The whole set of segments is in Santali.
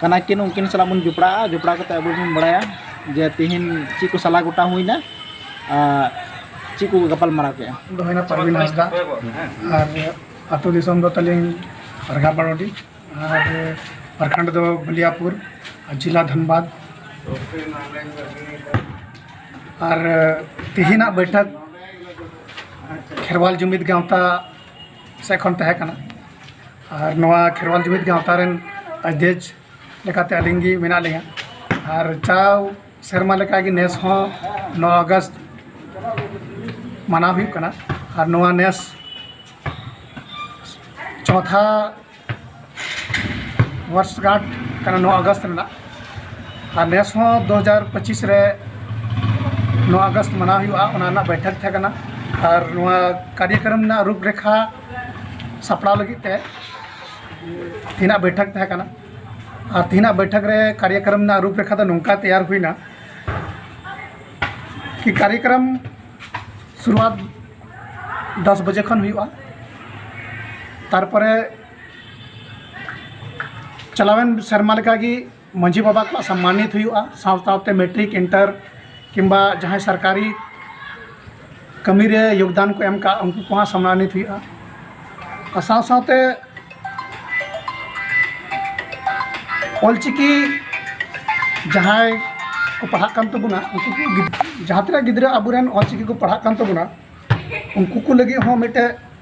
ᱠᱟᱱᱟ ᱠᱤᱱ ᱩᱱᱠᱤᱱ ᱥᱟᱞᱟᱜ ᱵᱚᱱ ᱡᱚᱯᱲᱟᱜᱼᱟ ᱡᱚᱯᱲᱟᱣ ᱠᱟᱛᱮ ᱟᱵᱚ ᱵᱚᱱ ᱵᱟᱲᱟᱭᱟ ᱡᱮ ᱛᱤᱦᱤᱧ ᱪᱮᱫ ᱠᱚ ᱥᱟᱞᱟ ᱜᱚᱴᱟ ᱦᱩᱭᱱᱟ ᱟᱨ ᱪᱮᱫ ᱠᱚ ᱜᱟᱯᱟᱞ ᱢᱟᱨᱟᱣ ᱠᱮᱜᱼᱟ ᱫᱚ ᱦᱩᱭᱱᱟ ᱯᱟᱨᱵᱤᱱ ᱦᱟᱸᱥᱫᱟ ᱟᱨ ᱟᱛᱳ ᱫᱤᱥᱚᱢ ᱫᱚ ᱛᱟᱹᱞᱤᱧ ᱯᱟᱨᱜᱟ ᱵᱟᱲᱚᱰᱤ ᱟᱨ ᱯᱨᱟᱠᱷᱚᱸᱰ ᱫᱚ ᱵᱟᱞᱤᱭᱟᱯᱩᱨ ᱟᱨ ᱡᱮᱞᱟ ᱫᱷᱟᱱᱵᱟᱫᱽ ᱟᱨ ᱛᱤᱦᱤᱧᱟᱜ ᱵᱟᱹᱭᱴᱷᱟᱹᱠ ᱠᱷᱮᱨᱣᱟᱞ ᱡᱩᱢᱤᱫ ᱜᱟᱶᱛᱟ ᱥᱮᱫ ᱠᱷᱚᱱ ᱛᱟᱦᱮᱸ ᱠᱟᱱᱟ ᱟᱨ ᱱᱚᱣᱟ ᱠᱷᱮᱨᱣᱟᱞ ᱡᱩᱢᱤᱫ ᱜᱟᱶᱛᱟ ᱨᱮᱱ ᱟᱫᱷᱮᱠ ᱞᱮᱠᱟᱛᱮ ᱟᱹᱞᱤᱧ ᱜᱮ ᱢᱮᱱᱟᱜ ᱞᱤᱧᱟᱹ ᱟᱨ ᱡᱟᱣ ᱥᱮᱨᱢᱟ ᱞᱮᱠᱟᱜᱮ ᱱᱮᱥ ᱦᱚᱸ ᱱᱚᱣᱟ ᱟᱜᱚᱥᱴ ᱢᱟᱱᱟᱣ ᱦᱩᱭᱩᱜ ᱠᱟᱱᱟ ᱟᱨ ᱱᱚᱣᱟ ᱱᱮᱥ ᱪᱚᱣᱛᱷᱟ ᱵᱚᱨᱥᱜᱟᱸᱴ ᱠᱟᱱᱟ ᱱᱚᱣᱟ ᱟᱜᱚᱥᱴ ᱨᱮᱱᱟᱜ ᱟᱨ ᱱᱮᱥ ᱦᱚᱸ ᱫᱩ ᱦᱟᱡᱟᱨ ᱯᱚᱸᱪᱤᱥ ᱨᱮ ᱱᱚᱣᱟ ᱟᱜᱚᱥᱴ ᱢᱟᱱᱟᱣ ᱦᱩᱭᱩᱜᱼᱟ ᱚᱱᱟ ᱨᱮᱱᱟᱜ ᱵᱟᱹᱭᱴᱷᱟᱹᱠ ᱛᱟᱦᱮᱸ ᱠᱟᱱᱟ ᱟᱨ ᱱᱚᱣᱟ ᱠᱟᱨᱡᱚᱠᱨᱚᱢ ᱨᱮᱱᱟᱜ ᱨᱩᱯᱨᱮᱠᱷᱟ ᱥᱟᱯᱲᱟᱣ ᱞᱟᱹᱜᱤᱫ ᱛᱮ ᱛᱤᱦᱤᱧᱟᱜ ᱵᱟᱹᱭᱴᱷᱟᱹᱠ ᱛᱟᱦᱮᱸ ᱠᱟᱱᱟ ᱟᱨ ᱛᱤᱦᱤᱧᱟᱜ ᱵᱟᱹᱭᱴᱷᱟᱹᱠ ᱨᱮ ᱠᱟᱨᱭᱚᱠᱨᱚᱢ ᱨᱮᱱᱟᱜ ᱨᱩᱯᱨᱮᱠᱷᱟ ᱫᱚ ᱱᱚᱝᱠᱟ ᱛᱮᱭᱟᱨ ᱦᱩᱭᱱᱟ ᱠᱤ ᱠᱟᱨᱭᱚᱠᱨᱚᱢ ᱥᱩᱨᱩᱣᱟᱛ ᱫᱚᱥ ᱵᱟᱡᱮ ᱠᱷᱚᱱ ᱦᱩᱭᱩᱜᱼᱟ ᱛᱟᱨᱯᱚᱨᱮ ᱪᱟᱞᱟᱣᱮᱱ ᱥᱮᱨᱢᱟ ᱞᱮᱠᱟᱜᱮ ᱢᱟᱹᱡᱷᱤ ᱵᱟᱵᱟ ᱠᱚ ᱥᱚᱱᱢᱟᱱᱤᱛ ᱦᱩᱭᱩᱜᱼᱟ ᱥᱟᱶ ᱥᱟᱶᱛᱮ ᱢᱮᱴᱨᱤᱠ ᱤᱱᱴᱟᱨ ᱠᱤᱝᱵᱟ ᱡᱟᱦᱟᱸᱭ ᱥᱚᱨᱠᱟᱨᱤ ᱠᱟᱹᱢᱤ ᱨᱮ ᱡᱳᱜᱽᱫᱟᱱ ᱠᱚ ᱮᱢ ᱠᱟᱜ ᱩᱱᱠᱩ ᱠᱚᱦᱚᱸ ᱥᱚᱱᱢᱟᱱᱤᱛ ᱦᱩᱭᱩᱜᱼᱟ ᱟᱨ ᱥᱟᱶ ᱥᱟᱶᱛᱮ ᱚᱞᱪᱤᱠᱤ ᱡᱟᱦᱟᱸᱭ ᱠᱚ ᱯᱟᱲᱦᱟᱜ ᱠᱟᱱ ᱛᱟᱵᱚᱱᱟ ᱩᱱᱠᱩ ᱠᱚ ᱡᱟᱦᱟᱸ ᱛᱤᱱᱟᱹᱜ ᱜᱤᱫᱽᱨᱟᱹ ᱟᱵᱚᱨᱮᱱ ᱚᱞᱪᱤᱠᱤ ᱠᱚ ᱯᱟᱲᱦᱟᱜ ᱠᱟᱱ ᱛᱟᱵᱚᱱᱟ ᱩᱱᱠᱩ ᱠᱚ ᱞᱟᱹᱜᱤᱫ ᱦᱚᱸ ᱢᱤᱫᱴᱮᱡ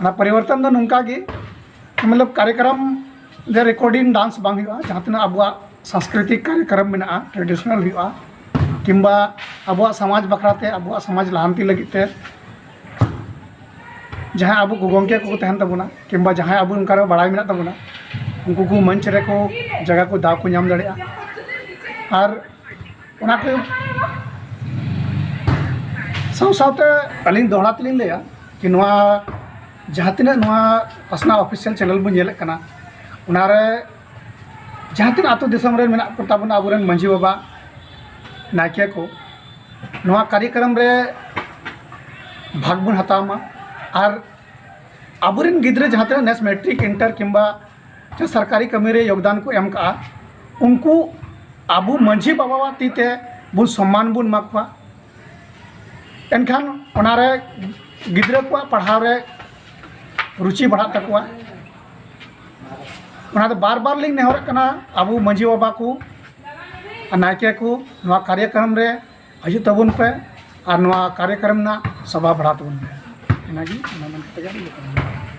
ᱚᱱᱟ ᱯᱚᱨᱤᱵᱚᱨᱛᱚᱱ ᱫᱚ ᱱᱚᱝᱠᱟ ᱜᱮ ᱢᱚᱛᱞᱚᱵ ᱠᱟᱨᱭᱚᱠᱨᱚᱢ ᱡᱮ ᱨᱮᱠᱳᱰᱤᱝ ᱰᱟᱱᱥ ᱵᱟᱝ ᱦᱩᱭᱩᱜᱼᱟ ᱡᱟᱦᱟᱸ ᱛᱤᱱᱟᱹᱜ ᱟᱵᱚᱣᱟᱜ ᱥᱟᱝᱥᱠᱨᱤᱛᱤᱠ ᱠᱟᱨᱭᱚᱠᱨᱚᱢ ᱢᱮᱱᱟᱜᱼᱟ ᱴᱨᱮᱰᱤᱥᱚᱱᱟᱞ ᱦᱩᱭᱩᱜᱼᱟ ᱠᱤᱢᱵᱟ ᱟᱵᱚᱣᱟᱜ ᱥᱚᱢᱟᱡᱽ ᱵᱟᱠᱷᱨᱟ ᱛᱮ ᱟᱵᱚᱣᱟᱜ ᱥᱚᱢᱟᱡᱽ ᱞᱟᱦᱟᱱᱛᱤ ᱞᱟᱹᱜᱤᱫ ᱛᱮ ᱡᱟᱦᱟᱸᱭ ᱟᱵᱚ ᱜᱚᱢᱠᱮ ᱠᱚᱠᱚ ᱛᱟᱦᱮᱱ ᱛᱟᱵᱚᱱᱟ ᱠᱤᱢᱵᱟ ᱡᱟᱦᱟᱸᱭ ᱟᱵᱚ ᱚᱱᱠᱟ ᱨᱮ ᱵᱟᱲᱟᱭ ᱢᱮᱱᱟᱜ ᱛᱟᱵᱚᱱᱟ ᱩᱱᱠᱩ ᱠᱚ ᱢᱚᱧᱪ ᱨᱮᱠᱚ ᱡᱟᱭᱜᱟ ᱠᱚ ᱫᱟᱣ ᱠᱚ ᱧᱟᱢ ᱫᱟᱲᱮᱭᱟᱜᱼᱟ ᱟᱨ ᱚᱱᱟ ᱠᱚ ᱥᱟᱶ ᱥᱟᱶᱛᱮ ᱟᱹᱞᱤᱧ ᱫᱚᱦᱲᱟ ᱛᱮᱞᱤᱧ ᱞᱟᱹᱭᱟ ᱠᱤ ᱱᱚᱣᱟ ᱡᱟᱦᱟᱸ ᱛᱤᱱᱟᱹᱜ ᱱᱚᱣᱟ ᱯᱟᱥᱱᱟᱣ ᱚᱯᱷᱤᱥᱤᱭᱟᱞ ᱪᱮᱱᱮᱞ ᱵᱚᱱ ᱧᱮᱞᱮᱫ ᱠᱟᱱᱟ ᱚᱱᱟᱨᱮ ᱡᱟᱦᱟᱸ ᱛᱤᱱᱟᱹᱜ ᱟᱛᱳ ᱫᱤᱥᱚᱢ ᱨᱮ ᱢᱮᱱᱟᱜ ᱠᱚ ᱛᱟᱵᱚᱱᱟ ᱟᱵᱚᱨᱮᱱ ᱢᱟᱺᱡᱷᱤ ᱵᱟᱵᱟ ᱱᱟᱭᱠᱮ ᱠᱚ ᱱᱚᱣᱟ ᱠᱟᱨᱭᱚᱠᱨᱚᱢ ᱨᱮ ᱵᱷᱟᱜᱽ ᱵᱚᱱ ᱦᱟᱛᱟᱣ ᱢᱟ ᱟᱨ ᱟᱵᱚᱨᱮᱱ ᱜᱤᱫᱽᱨᱟᱹ ᱡᱟᱦᱟᱸ ᱛᱤᱱᱟᱹᱜ ᱱᱮᱥ ᱢᱮᱴᱨᱤᱠ ᱤᱱᱴᱟᱨ ᱠᱤᱢᱵᱟ ᱥᱮ ᱥᱚᱨᱠᱟᱨᱤ ᱠᱟᱹᱢᱤ ᱨᱮ ᱡᱳᱜᱽᱫᱟᱱ ᱠᱚ ᱮᱢ ᱠᱟᱜᱼᱟ ᱩᱱᱠᱩ ᱟᱵᱚ ᱢᱟᱹᱡᱷᱤ ᱵᱟᱵᱟᱣᱟᱜ ᱛᱤ ᱛᱮ ᱵᱚ ᱥᱚᱱᱢᱟᱱ ᱵᱚᱱ ᱮᱢᱟ ᱠᱚᱣᱟ ᱮᱱᱠᱷᱟᱱ ᱚᱱᱟ ᱨᱮ ᱜᱤᱫᱽᱨᱟᱹ ᱠᱚᱣᱟᱜ ᱯᱟᱲᱦᱟᱣ ᱨᱮ ᱨᱩᱪᱤ ᱵᱟᱲᱦᱟᱜ ᱛᱟᱠᱚᱣᱟ ᱚᱱᱟ ᱫᱚ ᱵᱟᱨ ᱵᱟᱨ ᱞᱤᱧ ᱱᱮᱦᱚᱨᱚᱜ ᱠᱟᱱᱟ ᱟᱵᱚ ᱢᱟᱹᱡᱷᱤ ᱵᱟᱵᱟ ᱠᱚ ᱟᱨ ᱱᱟᱭᱠᱮ ᱠᱚ ᱱᱚᱣᱟ ᱠᱟᱨᱭᱚᱠᱨᱚᱢ ᱨᱮ ᱦᱤᱡᱩᱜ ᱛᱟᱵᱚᱱ ᱯᱮ ᱟᱨ ᱱᱚᱣᱟ ᱠᱟᱨᱭᱚᱠᱨᱚᱢ ᱨᱮᱱᱟᱜ ᱥᱚᱵᱷᱟ ᱵᱟᱲᱦᱟᱣ ᱛᱟᱵᱚᱱ ᱯᱮ ᱤᱱᱟᱹᱜᱮ ᱢᱮᱱ ᱠᱟᱛᱮ ᱜᱮ ᱟᱹᱞᱤᱧ ᱫᱚ